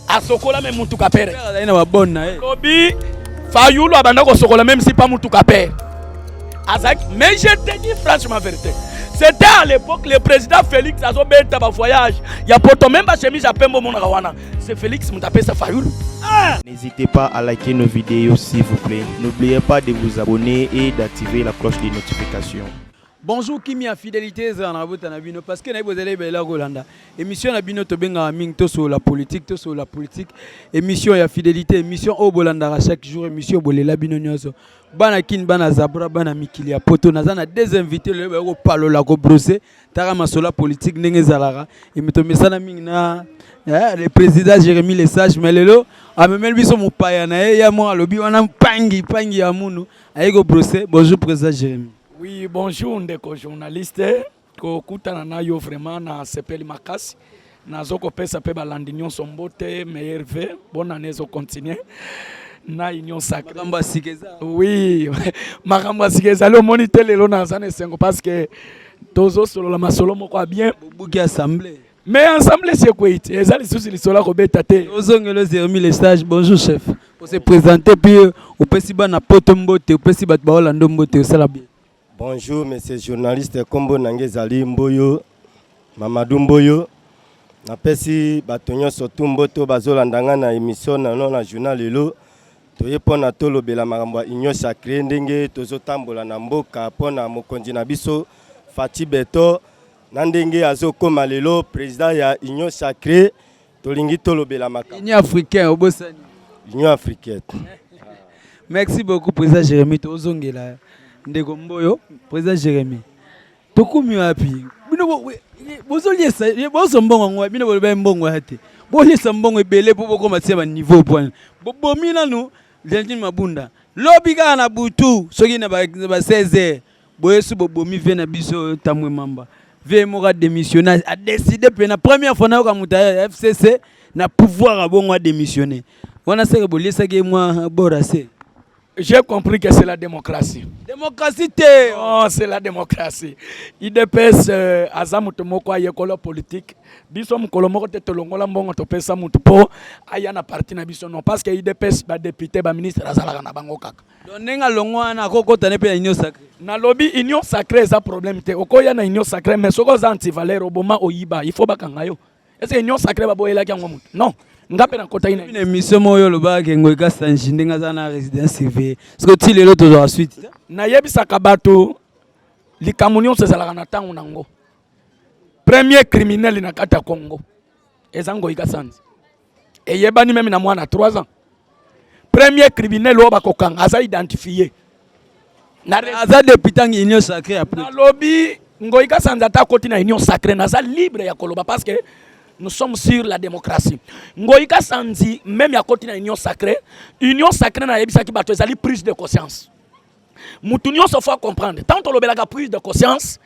asokola me mutuka pere lobi fayulu abanda kosokola meme si pa mutuka pere azalaki mais je te dis franchement vérité c'était à l'époque le président félix azobeta bavoyage ya poto meme bachemise ya pembe omonaka wana C'est Félix Moutapessa Fayoulou. Ah! N'hésitez pas à liker nos vidéos s'il vous plaît. N'oubliez pas de vous abonner et d'activer la cloche de notification. Bonjour Kimia Fidélité ezala na bota na bino parce que nayebi ozali ebela kolanda émission na bino tobengaka mingi tosolola politique tosolola politique émission ya fidélité émission oyo bolandaka chaque jour émission bolela bino nyonso bana kin bana zabra bana mikili ya poto naza na deux invité lelo baye kopalola kobrose Tala masolo ya politique ndenge ezalaka emitomesana mingi na eh, le président Jérémy le sage mais lelo amemeli biso mopaya na ye ya moko alobi wana mpangi mpangi ya munu aye kobrose bonjour président Jérémy Oui, bonjour ndeko journaliste. Kokutana na yo vraiment na sepeli makasi. Nazo kopesa pe balandi nyonso mbote meilleur vœu bonne année ezo continuer na union sacrée makambo ya sika eza oui makambo ya sika ezali omoni te lelo naza na esengo parce que tozosolola masolo moko ya bien bobuki assemblée me ensemble esi ekwei te eza lisusu lisolo ya kobeta te ozongelo zermi le sage bonjour chef ose présente puis opesi bana poto mbote opesi bato baolando mbote osala bien Bonjour monsieur journaliste, kombo na ngai ezali Mboyo Mamadou Mboyo. Napesi bato nyonso tu mboto bazolanda ngai na emission na no na journal lelo. Toye mpo na tolobela makambo ya union sacrée ndenge tozotambola na mboka mpo na mokonzi na biso Fatshi Beton na ndenge azokoma lelo président ya union sacrée. Tolingi tolobela makambo. Union africaine obosani. Union africaine. Merci beaucoup président Jérémy tozongela ndeko Mboyo président Jérémy. Tokomi wapi? Bino bozoliesa bozo mbongo ngo bino boloba mbongo ya te. Boliesa mbongo ebele po bokoma tia ba niveau point. Bobomi nanu Gentine Mabunda. Lobi kaka na butu soki na ba 16 heures boyesu bobomi vie na biso oyo tamwe mamba vie moko adémissionne adécide mpe na première fois nayoka moto ya fcc na pouvoir abongo adémissionne wana seke boliesaki ye mwa borase j'ai compris que c'est la démocratie démocratie te oh, c'est la démocratie idps euh, aza moto moko ayekola politique biso mokolo moko te tolongola mbongo topesa moto mpo aya na parti na biso non parce que idps badepute baministre azalaka na bango kaka Donc ndenge alongo wana akokota ne mpe na union sacré nalobi union sacré eza problème te okoya na union sacré mais soki oza antivaleur oboma oyiba il faut bakanga yo ece union sacré baboyelaki yango moto non nga mpe nakotaki na émission moko yo olobaka ke ngoi kasanji ndenge aza na résidence surveillée soki ti lelo tozwaka suite te nayebisaka bato likambo nyonso ezalaka na ntango na yango premier criminel na kati ya congo eza ngoi kasanji eyebani meme na mwana 3 ans premier criminel oyo bakokanga aza identifie aza depute angi union sacré ya plus nalobi ngoi kasanza ata akoti na union sacré naza libre ya koloba parce que nous sommes sur la démocratie ngoi kasanzi meme akoti na union sacré union sacré nayebisaki bato ezali prise de conscience mutu nyonso faut comprendre tant tolobelaka prise de conscience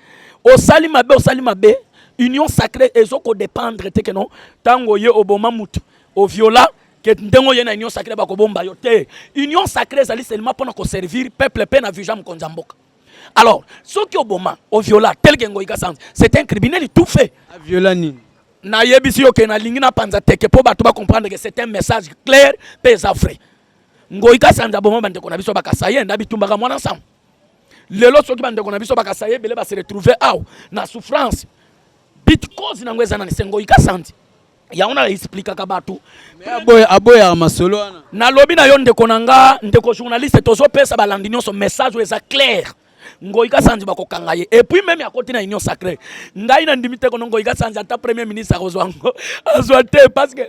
osali mabe osali mabe union sacrée ezo ko dépendre te que non tango ye oboma mutu oviola que ndenge oye na union sacrée bakobomba yo te union sacrée ezali seulement mpona koservir peuple mpe na visa mokonzi ya mboka alors soki oboma oviola tel que ngoyika sans c'est un criminel tout fait aviola nini nayebisi yo ke nalingi napanza teke mpo bato bacomprendre ke c'est un message clair mpe eza vrai Ngoyi Kasanza aboma bandeko na biso bakasaye na bitumbaka mwana nsango. Lelo soki bandeko na biso bakasaye ebele base retrouve awa na souffrance bit cause nango eza nani? Se Ngoyi Kasanza yango na explikaka bato aboyaka masolo wana. Nalobi na yo ndeko na nga, ndeko journaliste, tozopesa balandi nyonso message oyo eza claire. Ngoyi Kasanji bakokanga ye et puis meme akoti na union sacrée ngai na ndimi te kono Ngoyi Kasanji ata premier ministre akozwa yango azwa te parce que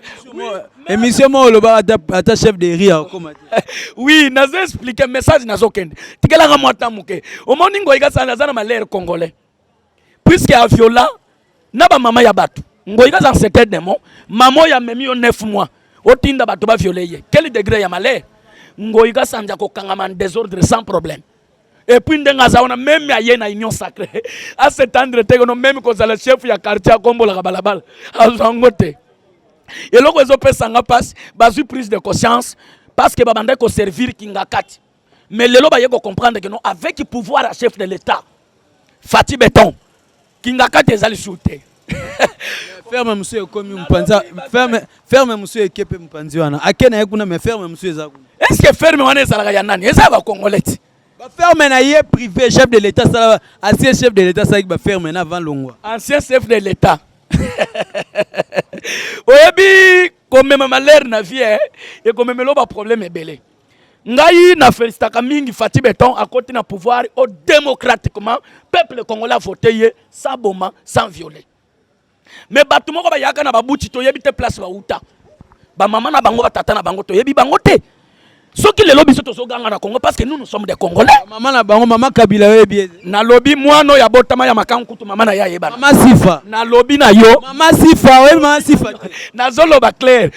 émission moko olobaka ata, ata chef de riz akokoma te oui nazo expliquer message nazokende tikelaka mwa ta moke omoni Ngoyi Kasanji aza na malere congolais puisque a viola na ba mama ya batu ngoyi kaza c'était demo mama ya memi yo 9 mois otinda batu ba violer ye quel degré ya malheur ngoyi kasanja kokangama en désordre sans problème et puis ndenge aza wana meme aye na union sacrée asetendre te kono meme kozala chef ya quartier akombolaka balabala azwa yango te eloko ezopesa nga mpasi bazwi prise de conscience parce que babandaki koservir kingakati mais lelo baye ko comprendre que non avec pouvoir ya chef de l'etat fati beton kingakati ezali sur te ferme mosusu ekomi mopanzi ferme, ferme mosusu eke mpe mopanzi wana ake na ye kuna mais ferme mosusu eza kuna est ce que ferme wana ezalaka ya nani eza ya bacongolais ti baferme na ye privé chef de l'état asala ancien chef de l'état asalaki baferme na avant longwa ancien chef de l'état oyebi komema malere na vie ekomemela ba problème ebele ngai na felicitaka mingi Fatih Beton akoti na pouvoir au démocratiquement peuple congolais a voté ye sans boma sans violer mais bato moko bayaka na babuti toyebi te place bauta bamama na bango batata na bango toyebi bango te soki lelo biso tozoganga na congo parce que nous nous sommes des congolais mama na bango mama kabila oyebi nalobi mwana oyo abotama ya makango kutu mama na ye ayebana mama sifa nalobi na yo mama sifa oyebi mama sifa nazoloba claire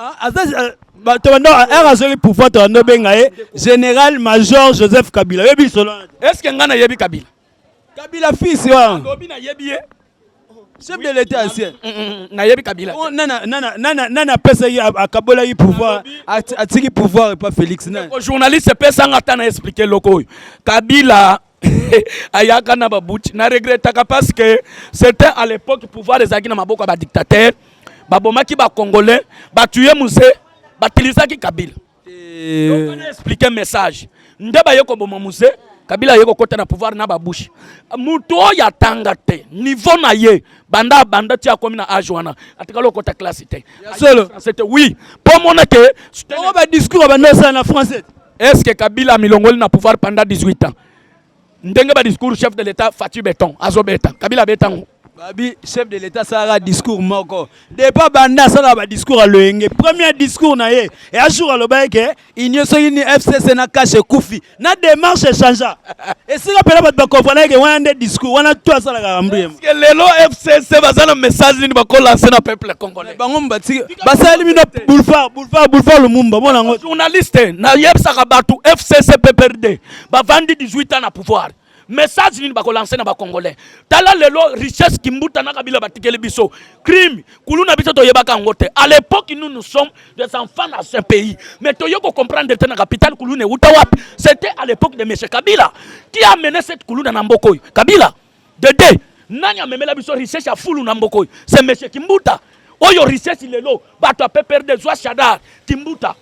Ah, r azweli pouvoir tobanda obenga ye général major joseph kabila oyebi lisolo est ce que ngai nayebi kabila kabila fils wana lobi nayebi ye chef de l'état ancien mm, mm, mm, nayebi kabila oh, nani apesaki akabolaki pouvoir atiki pouvoir epa félix journaliste epesanga ata na explike eloko oyo kabila ayaka na babuti na regretaka parce que c'était à l'époque pouvoir ezalaki na maboko ya badictateur babomaki bacongolais batuye muse batilisaki kabila eh. explike message nde baye koboma muse kabila aye kokota na pouvoir na babouche moto oyo atanga te niveau na ye banda abanda ti akomi na age wana atikali okota classe te solo te oui mpo omona ke badiscours abanda osala na français Est ce que Kabila amilongoli na pouvoir pendant 18 ans? Ndenge ba discours chef de l'État Fatih Beton azo beta. Kabila betango. Babi chef de l'État sala discours moko. Depa banda sala ba discours à loyenge. Premier discours na ye. Et un jour aloba que union soki ni FCC na cache kufi. Na démarche changea. esika pena bato bakomprana eke wana nde discours wana to asalaka rambuyema Parce que lelo fcc baza na message nini bakolanse na peuple congolais bango batiki basali bino boulevard boulevard boulevard lumumba mona yango journaliste nayebisaka bato fcc pprd bavandi 18 ans na pouvoir message nini bakolanse na bacongolais tala lelo richesse kimbuta na kabila batikeli biso crime kuluna biso toyebaka yango te à l'époque nous nous sommes des enfants dans ce pays mais toye ko comprendre te na capital kuluna euta wapi c'était à l'époque de monsieur kabila qui a mené cette kuluna na mboka oyo kabila de deux nani amemela biso richesse ya fulu na mboka oyo c'est monsieur kimbuta oyo richesse lelo bato ya pprd zwa shadar kimbuta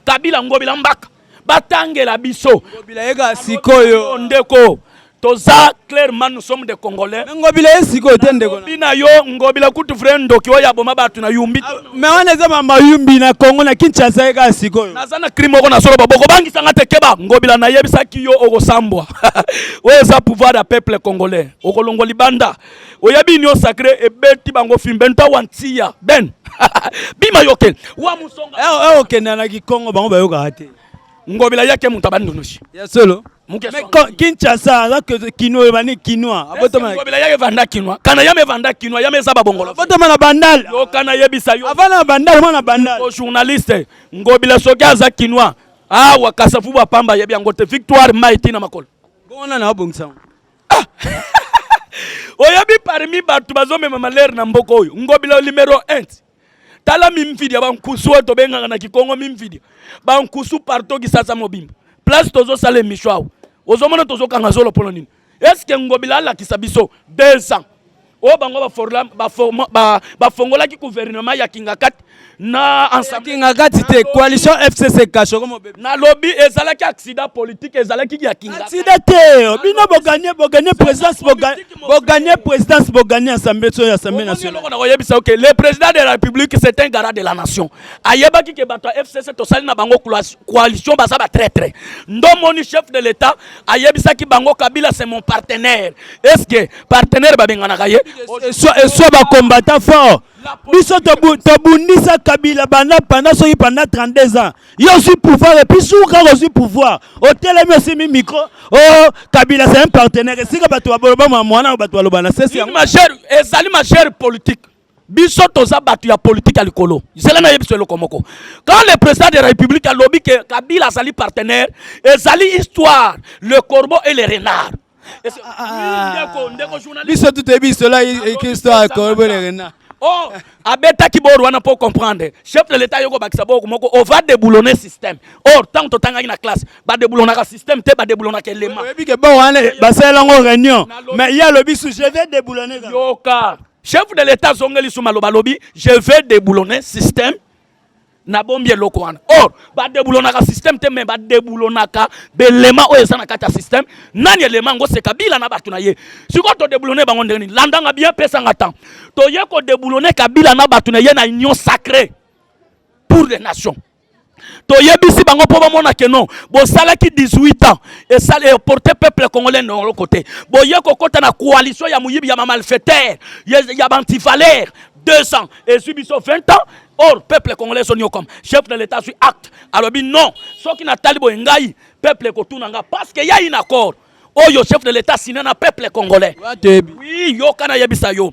kabila ngobila mbaka batangela biso bilayeka sikoyo ndeko toza clairement nous sommes des congolais ngobila ye sikoyo te ndeko bina yo ngobila kutu vrai ndoki oyo aboma bato na yumbi ah, me wana eza mama yumbi na congo na kinshasa ye kaka sikoyo naza na crime moko na soloba bokobangisa nga te keba ngobila nayebisaki yo okosambwa oyo eza pouvoir ya peuple congolais okolongwa libanda oyebi union sacré ebeti bango film benta wantiya ben bima yoke wa musonga eh, eh, okenda na kikongo bango bayokaka te ngobila yake moto abandonosi ya solo kinshasa aza kino oyebani kinois abotamaobela yaka evanda kinois kana yama evanda kinois yama eza babongolo abotama na bandal yokana yebisa yo avanda na bandal mwana bandal journaliste ngobila soki aza kinois awa kasavubu apamba ayebi yango te victoire mai tina makolo bongo nani abongisa yango ah! oyebi parmi bato bazomema malere na mboka oyo ngobila numero 1 tala mimfidia bankusu oyo tobengaka na kikongo mimfidia bankusu parto kisasa mobimba place tozosala emisho awa ozomona tozokanga zolo mpo na nini eske ngobila alakisa biso 200 oyo bango bafongolaki gouvernement ya kingakati na kingakati te coalition fcc kashoko mobebe nalobi ezalaki accident politique ezalaki ya kingakatida te bino boganye boganye présidence boganye présidence boganye assemblée so ya assemblée nationale na koyebisa oke le président de la république c'est un garant de la nation ayebaki ke bato ya fcc tosali na bango coalition baza ba traitre ndomoni chef de l'état ayebisaki bango kabila c'est mon partenaire est ce que partenaire babenganaka ye eswa bakombata fort biso tobundisa kabila banda panda soki panda 32 ans yo ozwi pouvoir epuis soki kaka ozwi pouvoir otelemi osimbi micro o oh, kabila c'est un partenaire esika bato baboloba mwa mwana bato baloba na sesi yango ezali magere politique biso toza batu ya politique ya likolo zela na yebiso eloko moko quand le président de la république alobi que kabila azali partenaire ezali histoire le corbeau et le renard biso tuteyebi cela histoire le corbeau et le renard oh abetaki bor wana mpo comprendre chef de l'état yoko bakisa boko moko on va déboulonner système or ntango totangaki na classe badeboulonaka système te badeboulonaka elema oyebi ke bor wana basalela yango réunion mais ye alobi su je vais déboulonner yoka Chef de l'etat azongeli su maloba lobi je vais déboulonner système na bombi eloko wana or badebulonaka système te mais badebulonaka belema oyo eza na kati ya système nani elema yango se kabila na bato na ye sikoyo todebulone bango ndenge nini landanga bien pesanga temps toye kodebulone kabila na bato na ye na union sacré pour les nations toyebisi bango mpo bamona ke non bosalaki 18 ans esali eporte peuple congolais na eloko te boye kokota na coalition ya moyibi ya bamalfaiteur ya baantivaleur 2 ans ezwi biso 20 ans or peuple congolais ezoniokama chef de l'état azwi acte alobi non soki natali boye ngai peuple ekotuna ngai parce que yai na accord oyo chef de l'état sina na peuple congolais oui yoka nayebisa yo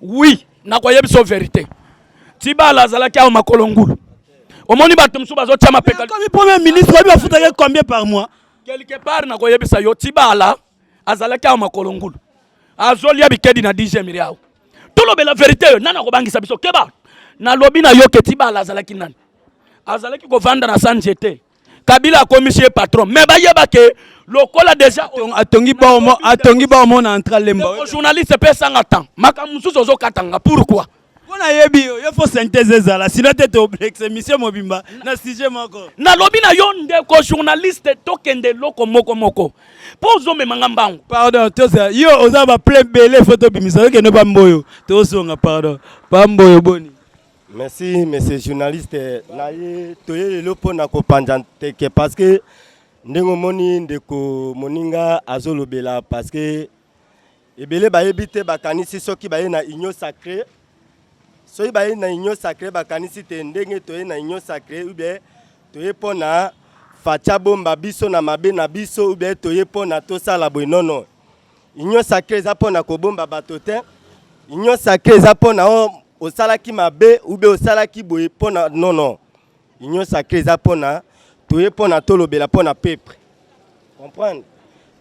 Oui, nakoyebisa yo verite. Tibala azalaki awa makolo ngulu. Omoni bato mosusu bazotia mapeka. Comme premier ministre, oyebi bafutaki combien par mois? Quelque part nakoyebisa yo Tibala azalaki awa makolo ngulu. Azolia bikedi na 10e miliao. Tolobela verite yo, nani akobangisa biso? Keba. Nalobi na yo ke Tibala azalaki nani? Azalaki kovanda na Sanjete. kabila akomisi ye patron mais bayeba ke lokola deja atongi baomo atongi baomo na entra lemba journaliste mpe esanga temps makambo mosusu ozokatanga pourquoi mpo nayebi yo yo fo synthèse ezala sino te toblexe émission mobimba na sujet moko nalobi na yo ndeko journaliste tokende eloko moko moko mpo ozomema nga mbangu pardon toza yo oza baple bele fo tobimisa okende bamboyo tozonga pardon bamboyo boni Merci monsieur journaliste na ye toye lelo mpo na kopanza nteke parce que ndenge omoni ndeko moninga azolobela parce que ebele bayebi te bakanisi soki baye na union sacré soki baye na union sacré bakanisi te ndenge toye na union sacré ubie toye mpo na facha bomba biso na mabe na biso ubie toye mpo na tosala boye nono union sacré eza mpo na kobomba bato te union sacré eza mpo na osalaki mabe ube osalaki boye mpo na non non union sacré eza mpo na toye mpo na tolobela mpo na peuple comprendre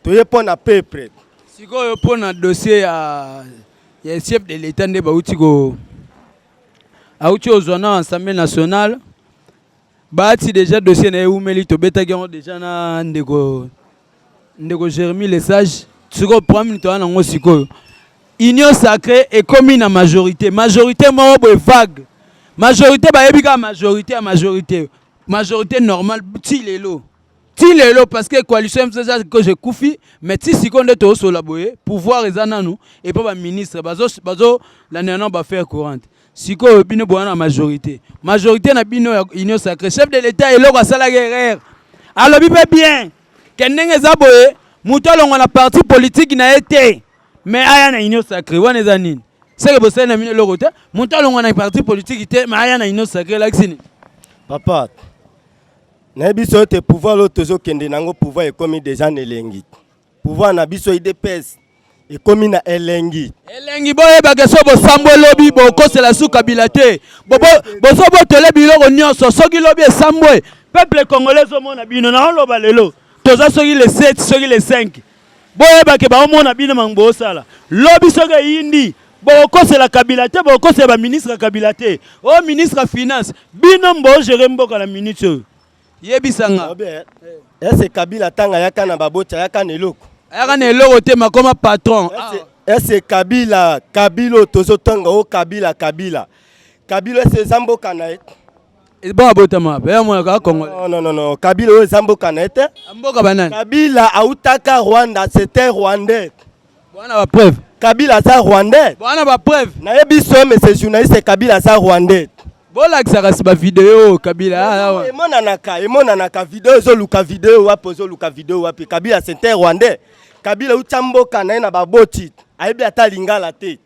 toye mpo na peuple sikoyo mpo na dossier ya ya chef de l'etat nde bauti ko auti ozwa na assemblée nationale Bahati deja dossier na ye eumeli, tobetaki yango deja na ndeko ndeko Jeremy le sage. Sikoyo problème nini toza nango sikoyo? Union sacrée ekomi na majorité, majorité moko boye vague, majorité bayebi kaka majorité ya majorité, majorité normale ti lelo ti lelo parce que coalition msasa que je kufi mais ti sikoyo nde tozosola boye pouvoir eza nanu epa baministre bazolandela nao bafaire courante sikoyo bino boya na majorité majorité na bino ya union sacré chef de l'état eloko asalaki erreur alobi mpe bien ke ndenge eza boye moto alongwa na parti politiki na ye te me aya na union sacré wana eza nini seke bosali na bino eloko te moto alongwa na parti politiki te me aya na union sacré elakisi nini papa nayebi so ete pouvoir oyo tozokende na yango pouvoir ekomi deja na elengi Pouvoir na biso idps ekomi na elengi elengi boyebake so bosambwe lobi bokosela su kabila te bozobotole biloko nyonso soki lobi esambwe peuple congolais ezomona bino naoloba lelo toza soki le 7 soki le 5 boyebake baomona bino mango bosala lobi soki eyindi bokokosela kabila te bokokosela baministre ya kabila te o ministre ya finance bino mbogere mboka na minute oyo Yebisa nga. Est-ce que Kabila tanga yaka na baboti ayaka na eloko? Ayaka na eloko te makoma patron. Est-ce que Kabila Kabilo tozo tanga o oh, Kabila Kabila. Kabila est-ce eza mboka na ye? Bon abotama wapi? Ya mwana ka Kongo. Non non non non, Kabila oyo eza mboka na ye te. Mboka banani? Kabila autaka Rwanda, c'était rwandais. Boana ba preuve. Kabila aza rwandais. Boana ba preuve. Na ye biso monsieur journaliste Kabila aza rwandais. Bolakisa kasi ba video Kabila ah, awa. Ah, emonanaka, emonanaka video ezoluka video wapi ezoluka video wapi Kabila c'est un rwandais. Kabila uta mboka na ye na baboti. Ayebi ata lingala te.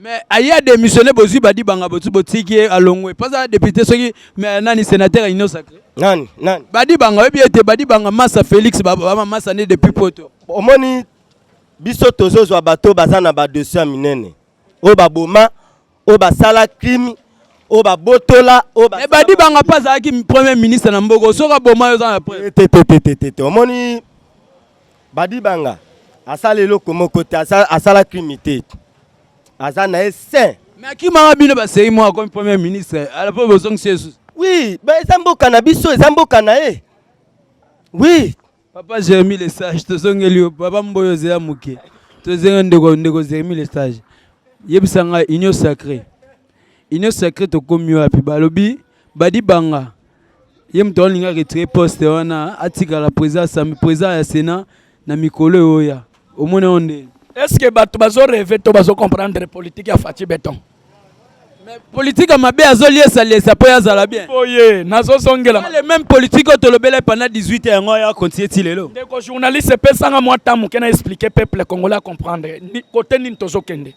mais aye a démissionné bozwi badibanga botiki ye alongwe mpo aza député soki mais nani sénateur ya union sacré nani nani badibanga oyebi ete badibanga masa félix bamamasa nde depuis poto omoni biso tozozwa bato baza na badosi ya minene oyo baboma oyo basala crime oyo babotola oyo mais badibanga mpe azalaki premier ministre na mboka soki aboma yo oza na preuve te te te te te omoni Badibanga asala eloko moko te asala crime te aza na ye saint mais akimaka bino basei mwa akomi premier ministre ala mpo bozongisi yesu oui eza mboka na biso eza mboka na ye oui papa jeremi le sage tozongeli yo papa mboyo ozela moke tozenge ndeko ndeko jeremi le sage yebisa ngai union sacré union sacrée tokomi wapi balobi badi banga ye moto alinga retire poste wana atikala président ya sénat na mikolo eoya omoni yango nde est ce que bato bazo reve to bazo comprendre politique ya faci beton politique ya mabe azoliesaliesa mpo ye azala bien boye nazozongela le même politique oyo tolobela pendant 18 ans yango ya continue ti lelo ndeko journaliste epesanga mwa ta moke na expliquer peuple congolais acomprendre kote nini tozokende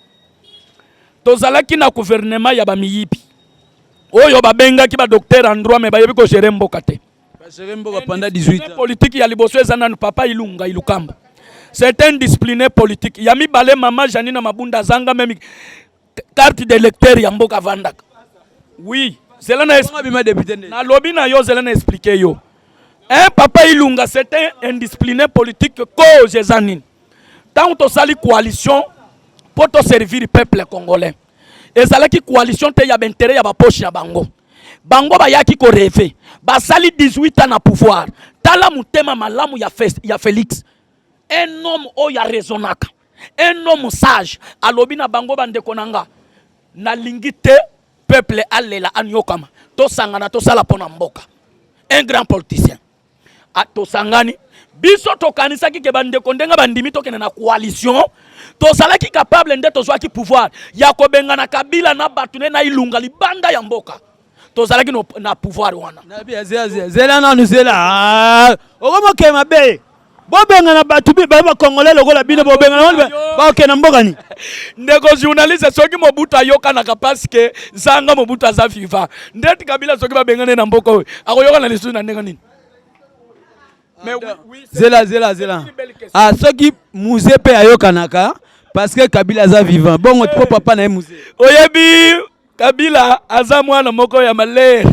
Tozalaki na gouvernement ya ba miyibi. Oyo babengaki ba docteur en droit mais bayebi ko gérer mboka te. Ba gérer mboka pendant 18 ans. Politique ya liboso eza nanu papa Ilunga Ilukamba. C'est un discipliné politique. Ya mibale mama Janina Mabunda zanga même carte d'électeur ya mboka vandaka. Oui, zela na na lobi na yo zela na expliquer yo. Un papa Ilunga c'est un indiscipliné politique cause eza nini? Tango tosali coalition pour to servir peuple congolais. Ezalaki coalition te ya intérêt ya ba poche ya bango. Bango bayaki ko rêver. Basali 18 ans na pouvoir. Tala mutema malamu ya, Fe, ya Felix. Un homme oyo arezonaka. Un homme sage alobi na bango bandeko na nga. Nalingi te peuple alela anyokama. Tosangana tosala pona mboka. Un grand politicien. Ah, tosangani biso tokanisaki ke bandeko ndenge bandimi tokende na coalition tozalaki capable nde tozwaki pouvoir ya kobengana kabila na bato ne na ilunga libanda ya mboka tozalaki na pouvoir wana zela nanu zela ah, okomokee mabe bobengana bato baye bacongolais lokola bino bobengana baoke na mboka ni ndeko journaliste soki mobutu ayokanaka paske zanga mobutu aza viva ndeti kabila soki babengane na mboka oyo akoyokana lisusu na ndenge nini zela zela zela ah, soki muze mpe ayokanaka paske kabila aza vivant bongo po papa na ye muze oyebi Kabila aza mwana moko ya malere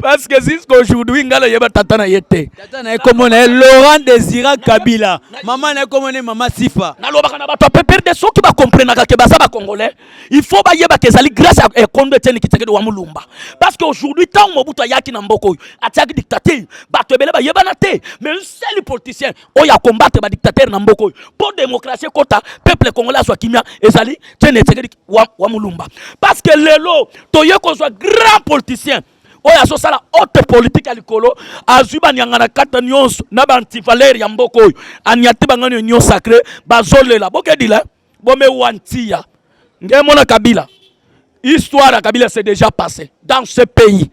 parce que jusqu'aujourd'hui ngai nayeba tata na ye te. Tata na ye kombo na ye Laurent Desira Kabila, mama na ye kombo na ye mama Sifa. Nalobaka na bato ya PPRD soki bakomprenaka ke baza bacongolais il faut bayebaka ezali grâce ya ekondo eh, Etienne Tshisekedi wa Mulumba parce que aujourd'hui ntango Mobutu ayaki na mboka oyo atiaki dictature bato ebele bayebana te mais un seul politicien oyo akombatre badictatere na mboka oyo mpo démocratie ekota peuple congolais azwa kimia ezali Etienne Tshisekedi wa, wa mulumba parce que lelo toye kozwa grand politicien oyo azosala haute politique ya likolo azwi banyanga na kata nyonso na baantivalere ya mboka oyo anyati bangani union sacré bazolela bokedila bomewa ntiya nge mona kabila histoire ya kabila c'est déjà passé dans ce pays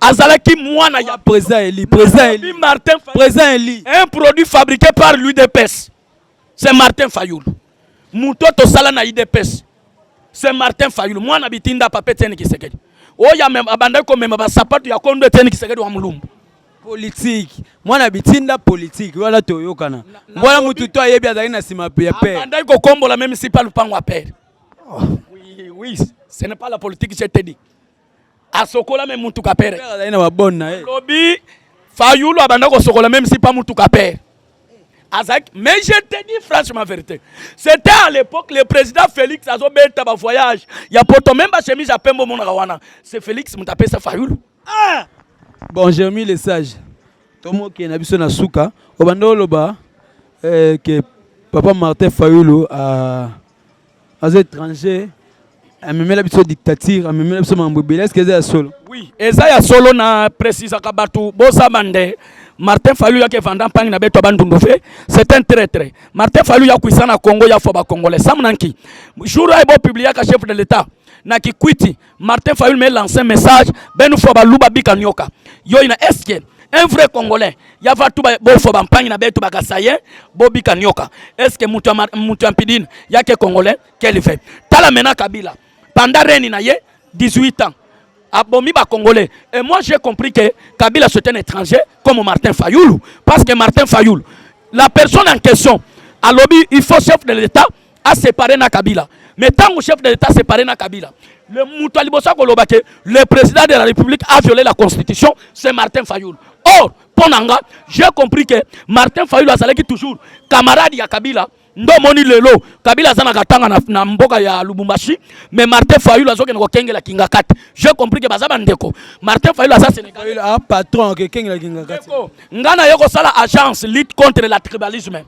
azalaki mwana ya président eli président eli martin président eli un produit fabriqué par l'udps c'est martin fayulu moto tosala na udps c'est martin fayulu mwana bitinda papa etienne kisekedi oyo abandaki komema basapato ya kondo etienne kisekedi wa mulumbu politiki mwana bitinda politiki wana toyokana mwana motu to ayebi azalaki na nsima ya pere abandaki kokombola meme si pa lupango ya pere oh. oui, oui. ce n'est pas la politique je te dis asokola me mutuka pere azali na babone na ye lobi fayulu abanda kosokola meme si pa mutuka pere azalaki mais je te dis franchement vérité c'était à l'époque le président félix azobeta bavoyage ya poto meme bachemise ya pembe omonaka wana c'est félix moto apesa fayulu ah! bon jeremi le sage tomokee na biso na suka obanda oloba eh, ke papa martin fayulu a ah, aza étranger amemela biso dictature amemela biso makambo ebele eske eza ya solo oui eza ya solo na precisaka bato bosaba nde martin falu yake vanda mpangi na beto bandundu fe c'est un traitre martin falu ya kuisa na congo ya fo bacongolais sam nanki jour aye bopubliaka chef de l'état na kikwiti Martin Fayulu me lance un message benu fwa baluba bika nyoka yo ina eske un vrai congolais ya vatu bofwa bampangi na betu bakasaye bobika nyoka eske mutu mutu ya mpidini yake congolais quel fait tala mena kabila panda reni na ye 18 ans abomi ba congolais et moi j'ai compris que kabila c'est un étranger comme Martin Fayulu parce que Martin Fayulu la personne en question alobi il faut chef de l'état a séparé na Kabila mais tango chef de l'État séparé na Kabila le moto aliboso koloba que le président de la République a violé la constitution c'est Martin Fayoul or mpo na nga j'ai compris que Martin Fayoul azalaki toujours camarade ya Kabila ndo moni lelo kabila aza na katanga na, na mboka ya lubumbashi mais martin fayulu azokende kokengela kingakati je compris ke baza bandeko martin fayulu aza sénégal ah, patron akekengela kingakati nga naye kosala agence lutte contre la tribalisme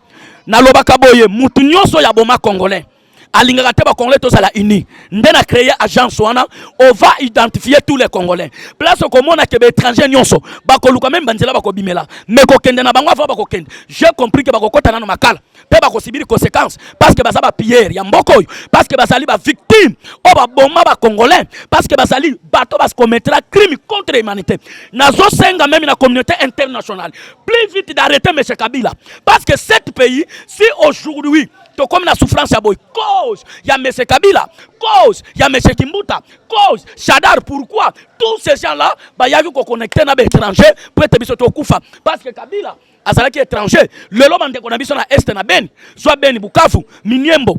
nalobaka boye mutu nyonso ya boma congolais alingaka te bacongolais tozala uni nde na créer agence wana ova identifier tous les congolais place okomona ke baétranger nyonso bakoluka meme banzela bakobimela me kokende na bango avant bakokende j'ai compris ke bakokɔta nano makala mpe bakosibiri conséquence parce que baza bapillere ya mboka oyo parce que bazali bavictime oyo baboma bacongolais parce que bazali bato bakomettra crime contre humanité nazosenga meme na communauté internationale plus vite d'arrêter monsieur Kabila parce que cet pays si aujourd'hui tokomi na souffrance ya boye cause ya monsieur Kabila cause ya monsieur Kimbuta cause Shadar pourquoi tous ces gens là bayaki ko connecter na ba étranger pour ete biso tokufa parce que Kabila azalaki étranger lelo bandeko na biso na est na Beni soit Beni Bukavu Miniembo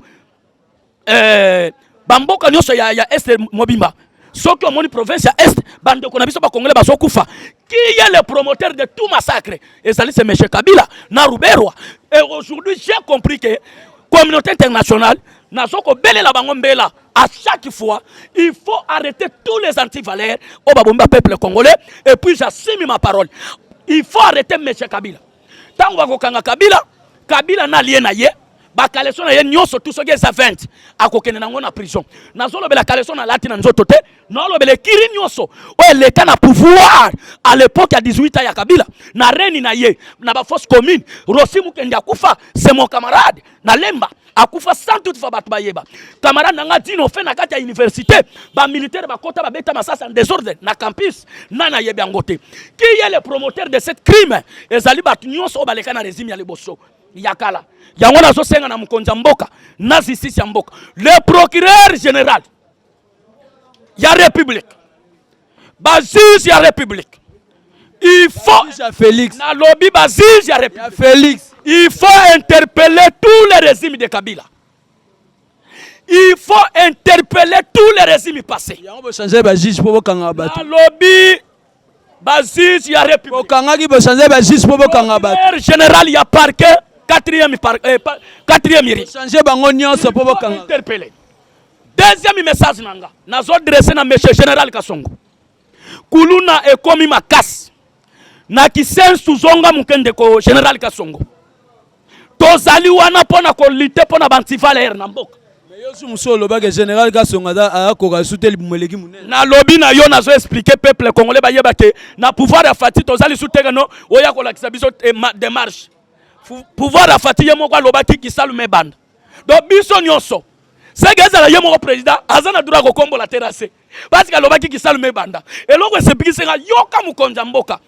eh, bamboka nyonso ya, ya est mobimba soki omoni province ya est bandeko na biso bakongole bazokufa qui est le promoteur de tout massacre ezali se monsieur kabila na ruberwa et aujourd'hui j'ai compris que communauté internationale nazo kobelela bango mbela à chaque fois il faut arrêter tous les antivaleurs oyo babomba peuple congolais et puis j'assume ma parole il faut arrêter monsieur kabila Tango bakokanga Kabila, Kabila na allié na ye bakaleso na ye nyonso tu soki eza 20 akokende nango na prison. Nazolobela kaleso na lati na nzoto te, naolobela ekiri nyonso oyo eleka na pouvoir à l'époque ya 18 ans ya Kabila na reni na ye na ba fausses communes. Rosi Mukendi akufa, c'est mon camarade na Lemba. akufa sans toute fois bato bayeba camarade na nga dino fe na kati ya université bamilitaire bakota babeta masasi en désordre na campus nani ayebi yango te qui est le promoteur de cette crime ezali bato nyonso oyo baleka na régime ya liboso ya kala yango nazosenga na mokonzi ya mboka na justice ya mboka le procureur général ya republique bajuge ya republique il faut Félix nalobi bajuge ya republique Félix il faut interpeller tous les régimes de Kabila il faut interpeller tous les régimes passés yango bochanger bajuge mpo bokanga bato nalobi ba juge ya republique bokangaki bochange ba juge mpo bokanga bato Procureur general ya parquet quatrième par, eh, pa- quatrième iri change bango nyonso mpo bokanga interpellé deuxième message na nga nazo dresse na monsieur général kasongo kuluna ekomi makasi na kisensu zonga moke ndeko général kasongo tozali wana mpo na kolite mpo na bantivalere na mboka yesu mosusu olobaki général kasonga akoka esu te libumu eleki monene nalobi na yo nazo explike peuple congolais bayeba ke na pouvoir ya fati toza lisu teke no oya kolakisa biso eh, demarche pouvoir ya fati ye moko alobaki kisalume ebanda donc biso nyonso seke ezala ye moko président aza na droit kokombola terase parce que alobaki kisalume ebanda eloko esepikisi nga yoka mokonzi ya mboka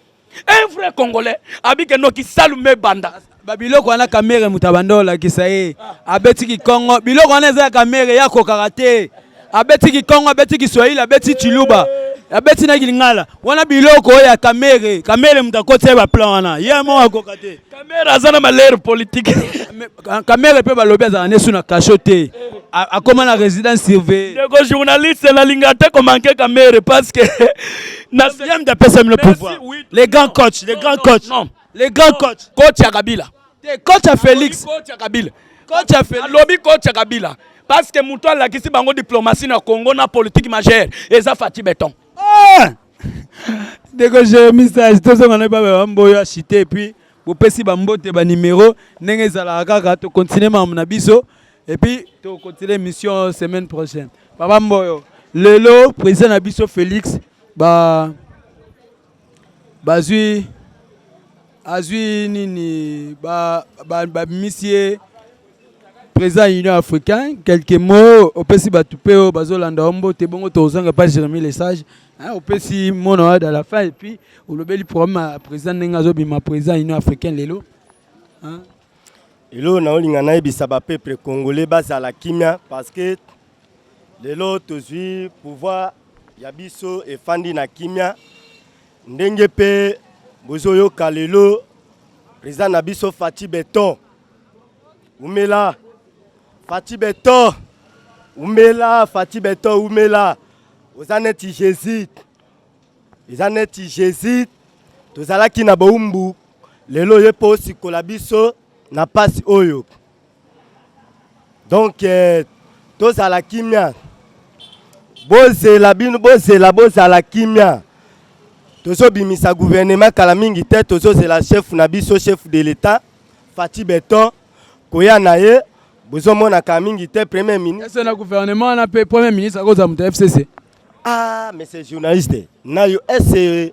un vrai congolais abike noki salume banda babiloko wana kamere moto abanda olakisa ye abeti kikongo biloko wana eza ya kamere ya kokaka te abeti kikongo abeti kiswahili abeti chiluba abeti na kilingala wana biloko oyo ya kamere kamere moto akoti ye baplan wana ye moko akoka te Kamere aza na malere politique. Kamere pe balobi azala nesu na cachot te. Akoma na résidence surveillée. Ndeko journaliste na linga te ko manquer Kamere parce que na siam da pesa mino pouvoir. Les grands coachs, les grands coachs. Non. Les grands coachs. Coach ya Kabila. Te coach ya Felix. Coach ya Kabila. Coach ya Felix. Alobi coach ya Kabila. Parce que mutu alakisi bango diplomatie na Congo na politique majeure. Eza Fatih Beton. Ah! ndeko jeremi sage tozonga na baba bamboyo achite epuis bopesi bambote banimero ndenge ezalaka kaka tokontinue makambo na biso epuis tokontinue mission semaine prochaine baba mboyo lelo président na biso félix ba bazwi azwi nini babimisi ye président ya union africain quelques mots opesi bato mpe oyo bazolanda yo mbote bongo tokozonga epai jérémi lesage opesi mona oyo da la fin epuis olobeli problème ya président ndenge azobima président ya union africain lelo eloo naolinga nayebisa bapeuple congolais bazala kimia parce que lelo tozwi pouvoir ya biso efandi na kimia Ndenge mpe bozoyoka lelo president na biso Fatshi Beton umela Fatshi Beton umela Fatshi Beton umela oza neti Jésus eza neti Jésus tozalaki na bowumbu lelo ye mpo osikola biso na mpasi oyo donc eh, tozala kimia bozela bino bozela bozala kimia tozobimisa guvernema kala mingi te tozozela chef na biso chef de l'etat fati beton koya na ye bozomonaka mingi te premier ministre na guvernema wana mpe premier ministre akozala moto ya fcc ah monsieur journaliste nayo ese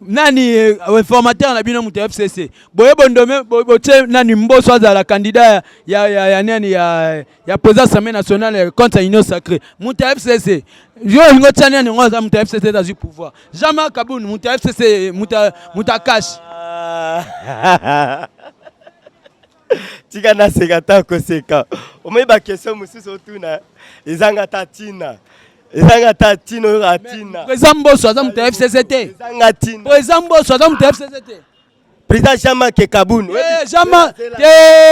nani eh, informateur na bino moto ya fcc boye bondome botie nani mboso azala candidat ya, ya, ya nani ya, ya président assemblée nationale contre ya union sacré moto ya fcc yo olingi otia nani yango aza moto ya fcc ezazwi pouvoir jamais kabund moto ya fcc moto ya kashi tika naseka ata koseka omoi bakestion mosusu otuna ezanga ata ntina ezanga ata ntina oyoka ntina eza mboso aza moto ya fcc te ezanga ntina eza mboso aza moto ya fcc te président jean-marc kabun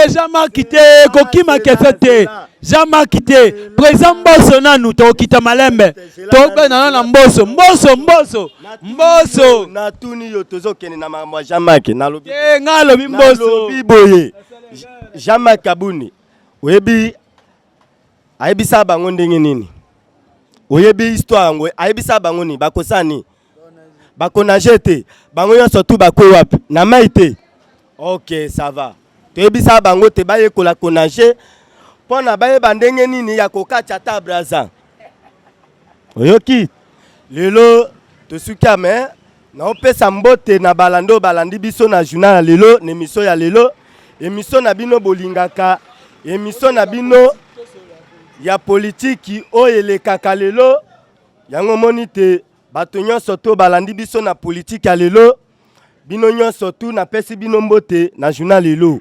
jean-marc te kokima kese te jean-marc te président mboso nanu tokokita malembe tobenana na mboso mboso mboso mboso natuni yo tozokende na makambo ya jean mak nalobi eh, nga alobi mbosolobi boye jean mak kabuni oyebi ayebisa bango ndenge nini oyebi histoire yango ayebisa bango nini bakosani bakonage te bango nyonso tu bakwe wapi na mai te ok ça va toyebisa bango te bayekola konage mpo na bayeba ndenge nini ya kokatya ata braza oyoki lelo tosuki ame naopesa mbote na balando balandi biso na journal ya lelo na emisio ya lelo emisio na bino bolingaka emisio na bino ya politiki oyo elekaka lelo Yango omoni te bato nyonso to balandi biso na politiki ya lelo bino nyonso tu napesi bino mbote na journal lelo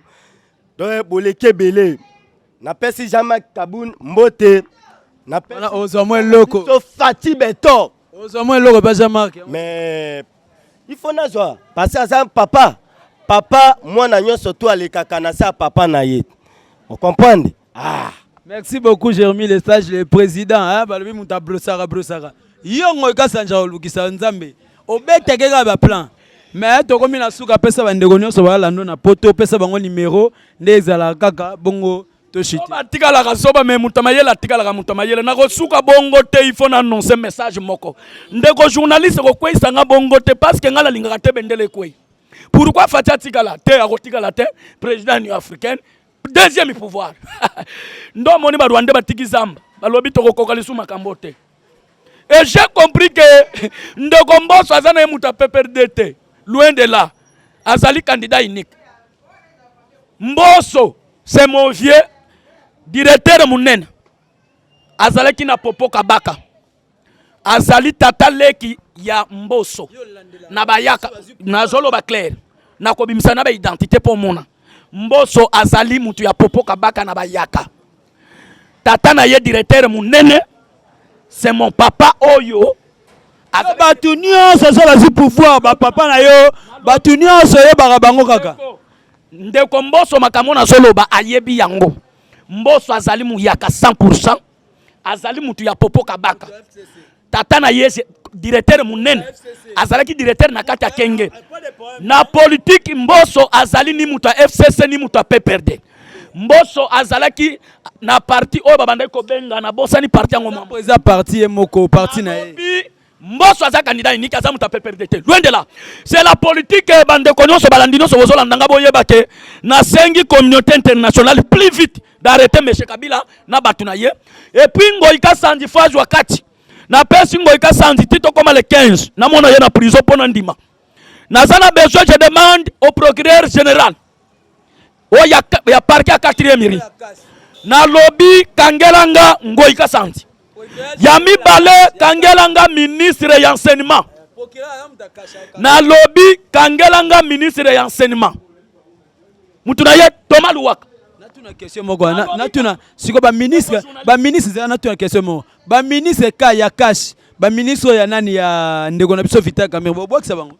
donc boleki ebele napesi jean marc kabun mbote ozwa mwa eloko fati beto ozwa mwa eloko mpe jean marc mais il faut nazwa parce aza papa papa mwana nyonso tu alekaka na se ya papa na ye ocomprendre Ah, merci beaucoup Jérémy le sage le président hein balobi mutu abrosaka brosaka yongo ekasanja olukisa nzambe obetake kaka baplan mais tokomi na suka pesa bandeko nyonso balando na poto pesa bango numero nde ezalaka kaka bongo atikalaka zoba me moto mayele atikalaka moto mayele nakosuka bongo te il faut na annonce message moko ndeko journaliste kokweisa nga bongo te parce que nga nalingaka te bendele ekwei pourquoi fati atikala te akotikala te président union africaine deuxième pouvoir ndo omoni barwande batiki zamba balobi tokokoka lisu makambo te et j'ai compris que ndeko mboso aza na ye moto ya pprd te loin de là azali candidat unique mboso c'est mon vieux directeur monene azalaki na popo kabaka azali tata leki ya mboso na bayaka nazoloba claire nakobimisa na baidentité mpo omona mboso azali moto ya popo kabaka na bayaka tata na ye directeur monene c'est mon papa oyo bato nyonso oza bazwi pouvoir bapapa na yo bato nyonso oyebaka bango kaka ndeko mboso makambo nazoloba ayebi yango mboso azali muyaka 100 azali mutu ya popo kabaka tata na ye directeur munene azalaki directeur na kati ya kenge na politiki mboso azali ni moto ya fcc ni moto ya pprd mboso azalaki na parti oyo babandaki kobenga na bosani parti yango mambo eza parti ye moko parti na ye Mboso aza candidat unique, aza mutu PPRD te. Loin de là. C'est la politique eh, bandeko nyonso balandi nyonso bozolanda nga boyeba ke nasengi communauté internationale plus vite d'arrêter monsieur Kabila na batu na ye. Et puis Ngoyi Kasanji fo azwa kati. Napesi Ngoyi Kasanji ti tokoma le 15. Namona ye na prison mpo na ndima. Naza na besoin, je demande au procureur général oyo ya, ya parke ya quatrième ri nalobi kangela nga ngoi kasanzi ya mibale kangela nga ministre ya enseignement nalobi kangela nga ministre ya enseignement mutu na ye toma luwaka natuna question moko natuna sikoyo baministre baministre zela natuna question moko Ba ministre ka ya cash, ba ministre ya nani ya ndeko na biso Vital Kamerhe, bo bwakisa bango.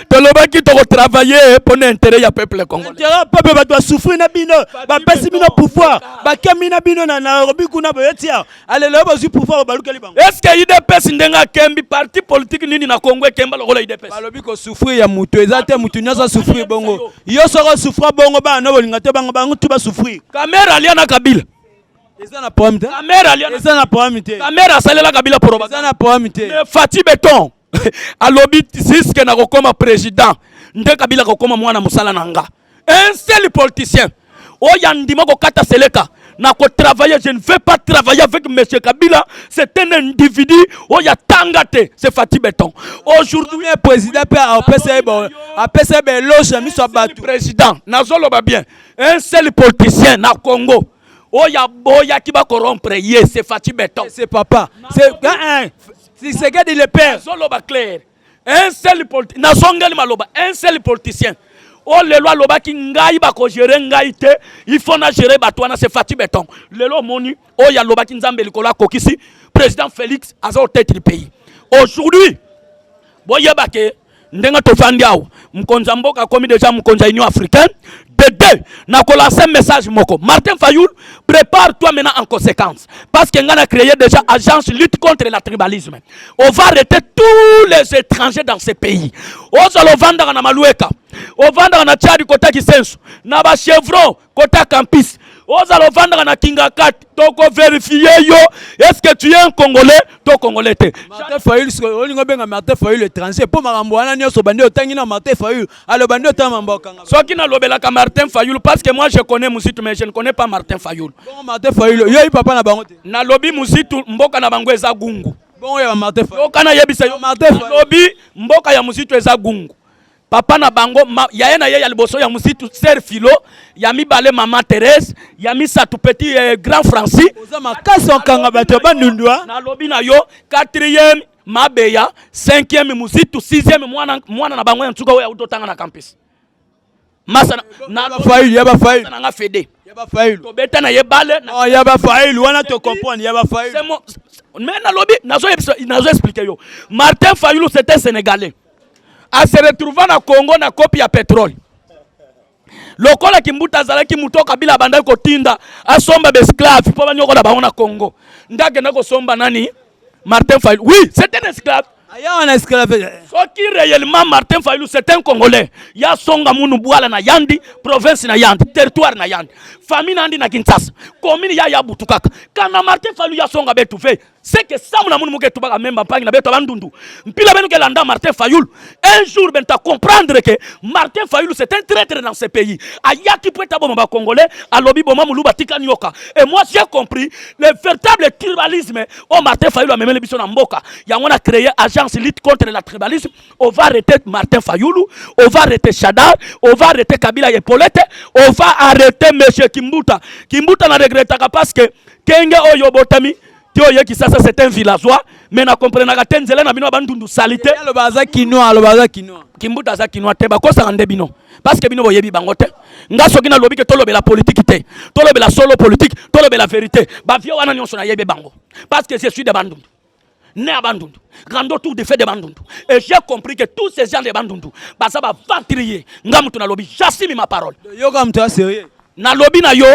tolobaki toko travailler pour l'intérêt ya peuple congolais. Intérêt peuple bato ba souffrir na bino, ba pesi bino pouvoir, ba kemi na bino na Nairobi kuna boye tia. Allez lelo bazui pouvoir balukeli bango. Est-ce que UDPS ndenge akembi parti politique nini na Congo ekemba lokola UDPS? Balobi ko souffrir ya mutu eza te mutu nyoso souffrir bongo. Yo soko souffrir bongo ba na bolinga te bango bango tu ba souffrir. Kamera alia na Kabila. eza na problème te kamera alia eza na problème te kamera asalela kabila poroba eza na problème te mais Fatih Beton alobi jusque na kokoma président nde kabila kokoma mwana mosala na nga un seul politicien oyo andima kokata seleka na kotravailler je ne vais pas travailler avec monsieur kabila c'est un individu oyo atanga te c'est fati beton aujourd'hui président mpe apesa ye apesa ye baeloge ya miso ya bato président nazoloba bien un seul politicien na congo oyo aboyaki ba corrompre ye c'est Fatshi Beton. C'est papa. C'est un Tshisekedi le père. Zoloba clair. Un seul politicien. Nazongeli maloba. Un seul politicien. oyo lelo alobaki ngai bakogere ngai te ifo na gere bato wana se fati beton lelo omoni oyo alobaki nzambe likolo akokisi président félix aza otete du pays aujourd'hui boyeba ke ndenge tofandi awa mokonzi ya mboka akomi deja mokonzi ya union africaine de deux nakolanse message moko martin fayoul prépare toi maintenant en conséquence parce que ngai na créé déjà agence lutte contre la tribalisme on va arrêter tous les étrangers dans ce pays ozala ovandaka na malueka ovandaka na tchadi kotaki sensu na bachevron kota campus ozala ovandaka na kingakati toko verifie yo eske tu es un congolais to congolais te martin fayul sikoyo olingi obenga martin fayul étranger mpo makambo wana nyonso bandi otangi na martin fayul aloba nde otanga mambo okanga soki nalobelaka martin fayul parce que moi je connais muzitu mais je ne connais pas martin fayul bongo martin fayul oyebi papa na bango te nalobi muzitu mboka na bango eza gungu bongo ya martin fayul okana yebisa yo martin fayul nalobi mboka ya muzitu eza gungu papa na bango ma, yaya na ye ya liboso ya mositu ser filo ya mibale mama therese ya misato petit eh, grand francis oza makasi okanga bato ya bandundwa nalobi na yo quatrième mabeya cinquième mositu sixième mwana, mwana na bango ya nsuka oyo auti otanga na campus masa na nga fede tobeta na ye bale oh, ya bafailu wana tocomprendre ya bafailu mais nalobi nazo explique yo martin fayulu c'était sénégalais a se retrouva na Congo na kopi ya petrole lokola kimbuta azalaki moto oyo kabila abandaki kotinda asomba baesclave mpo banyokola bango na congo nde akenda kosomba nani martin fayulu oui c'est un esclave soki réellement martin fayulu c'est un congolais ya songa munu bwala na yandi province na yandi territoire na yandi famille na yandi na kinshasa commune ya yabutu kaka kana martin fayulu ya songa betuve seke samu na munu muke tubaka memba mpangi na beto bandundu mpila benu ke landa Martin Fayulu un jour ben ta comprendre que Martin Fayulu c'est un traitre dans ce pays ayaki po eta boma ba congolais alobi boma muluba tika nyoka et moi j'ai compris le véritable tribalisme au Martin Fayulu amemeli biso na mboka yango na créer agence lutte contre la tribalisme on va arrêter Martin Fayulu on va arrêter Shadar on va arrêter Kabila et Paulette on va arrêter monsieur Kimbuta Kimbuta na regrettaka parce que Kenge oyo obotami ti oye Kisasa c'est un villageois mais na comprenaka te nzela na bino bandundu salite. Aloba aza kinois, aloba aza kinois. Kimbuta aza kinois te bakosaka nde bino parce que bino boyebi bango te. Nga soki nalobi ke tolobela politique te, tolobela solo politique, tolobela verite. Ba vieux wana nyonso nayebi bango parce que je suis de bandundu né à Bandundu, grand tour de fait de Bandundu. Et j'ai compris que tous ces gens de Bandundu, baza ba ventrier, nga mutu na lobi, j'assume ma parole. Yo comme toi sérieux. Na lobi na yo,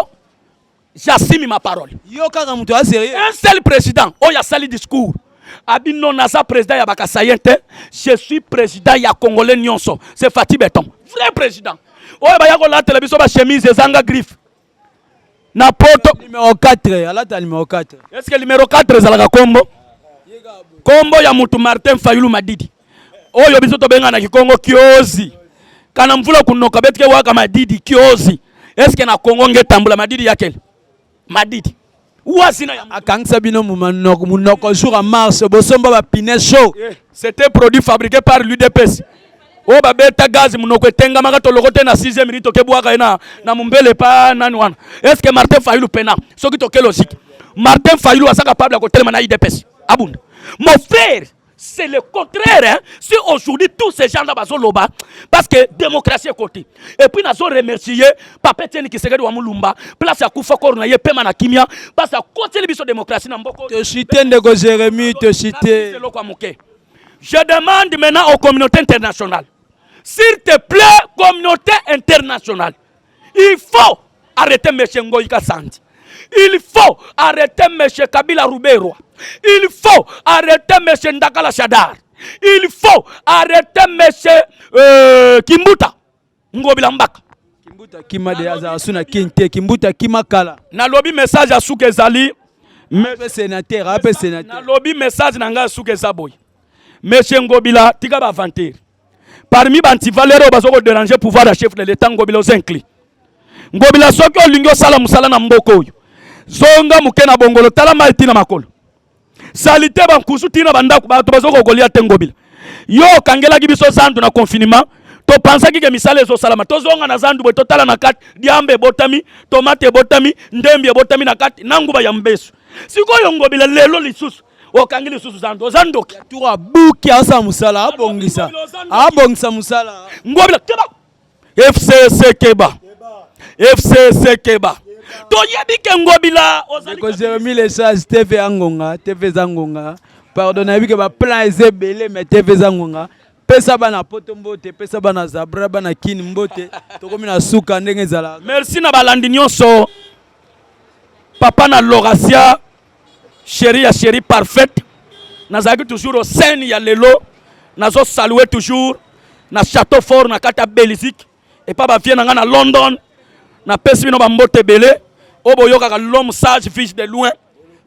J'assume ma parole. Yo kaka mutu a sérieux. Un seul président oyo asali discours abi non naza président ya bakasayen te je suis président ya congolais nyonso c'est Fatih Beton vrai président oyo baya kolatela biso ba chemise ezanga griffe na poto numéro 4 alata numéro 4 est ce que numéro 4 ezalaka kombo kombo ya mutu Martin Fayulu Madidi oyo biso tobenga na kikongo kiozi kana mvula kunoka betike waka madidi kiozi eske na kongo nge tambula madidi yakele madidi wasi na yango akangisa bino munoko munoko jour en mars bosomba ba pine chaud eh, c'était produit fabriqué par l'UDPS oyo oh, babeta gaz munoko etengamaka toloko te na 6e minute tokebwaka ye na, na mombele pa nani wana eske martin fayulu pena soki toke logique martin fayulu aza capable ya kotelema na udps abunda mon frère c'est le contraire hein? si aujourd'hui tous ces gens là bazoloba parce que démocratie ekoti et puis nazo remercier papa etienne kisekedi wa mulumba place akufa koro na ye pema na kimia basi akoteli biso démocratie na mboko te cite ndeko jérémie te cite eloko ya moke je demande maintenant aux communautés internationales s'il te plaît communauté internationale Il faut arrêter Monsieur Ngoyi Kasandi. Il faut arrêter Monsieur Kabila Ruberwa. Il faut arrêter Monsieur Ndakala Shadar. Il faut arrêter Monsieur euh, Kimbuta Ngobila Mbaka. Kimbuta kima de aza suna kinte Kimbuta kima kala. Na lobi message ya suka ezali Monsieur sénateur, ape sénateur. Na lobi message na ngai suka eza boye. Monsieur Ngobila tika ba aventure. parmi ba antivaleur oyo bazo ko déranger pouvoir ya chef de l'etat ngobila oza inclus ngobila soki olingi osala mosala na mboka oyo zonga moke na bongolo tala mai tina makolo salite bankusu tina bandako bato bazo kokolia te ngobila yo okangelaki biso zandu na confinement topansaki ke misala ezosalama tozonga na zandu boye totala na kati diamba ebotami tomate ebotami ndembi ebotami na kati na nguba ya mbesu sikoyo ngobila lelo lisusu okangi lisusu zando oza ndoki tour abuki asala mosala abongisa abongisa mosala ngobila keba fcc keba fcc keba toyebi ke ngobila ozali jeremi lesage tv ya ngonga tv eza ngonga pardon nayebi ke baplan eza ebele mais tv eza ngonga pesa bana poto mbote pesa bana zabra bana kini mbote tokomi na suka ndenge ezala merci na balandi nyonso papa na lorasia Chérie ya chérie parfaite nazalaki toujours au sein ya lelo nazo saluer toujours na château fort na kati ya Belgique epa ba vieux na nga na London na pesi bino ba mbote ebele oyo boyokaka l'homme sage vige de loin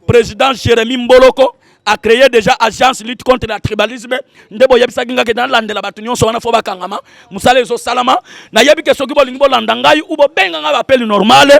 président Jérémy Mboloko a créé déjà agence lutte contre le tribalisme nde boyebisaki nga ke nalandela bato nyonso wana fo bakangama mosala ezosalama nayebi ke soki bolingi bolanda ngai ou bobenga ngai bapeli normale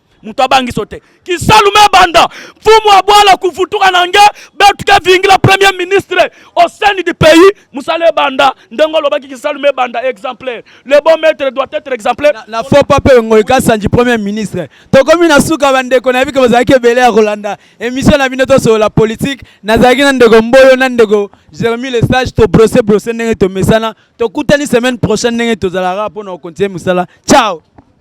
moto abangisi yo te kisalu mebanda mfumu abwala kuvutuka na nge betuke vingila premier ministre au sein du pays mosala ebanda ndenge olobaki kisalu mebanda exemplaire le bon maître doit être exemplaire na, na faux pape ngoi kasanji premier ministre tokomi na suka bandeko nayebi ke bozalaki ebele ya kolanda émission na bino tosolola politique nazalaki na ndeko mboyo na ndeko jeremi le sage tobrose brose ndenge tomesana tokutani semaine prochaine ndenge tozalaka mpo na kokontinue mosala ciao